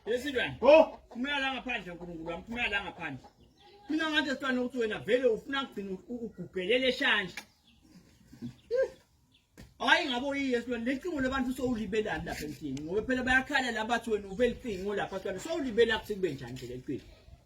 Yesilwane. Go. Phumela la ngaphandle uNkulunkulu wami, phumela la ngaphandle. Mina ngathi sifana ukuthi wena vele ufuna kugcina ugugelele shanje. Hayi ngabe uyiye silwane lecingo labantu sowulibelani lapha emthini ngoba phela bayakhala labathi wena ubelicingo lapha silwane sowulibela kuthi kube njani nje lempilo.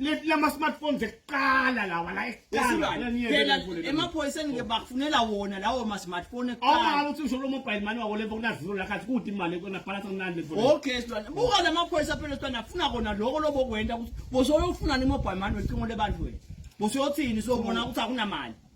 leti lama-smartphone zekuqala lawa la ekuqalaphela emaphoyiseni-ke bakufunela wona lawo ma-smartphone ekuqala uthi usho lo mobile mani wako lemfo kunazilo la khathi kude imali kona bhalasa kunani lemfo okay silwane buka la maphoyisa phela silwane afuna kona loko lobokwenta ukuthi bosoyofuna ni mobile mani wecingo lebantu wena bosoyothini sobona ukuthi akunamali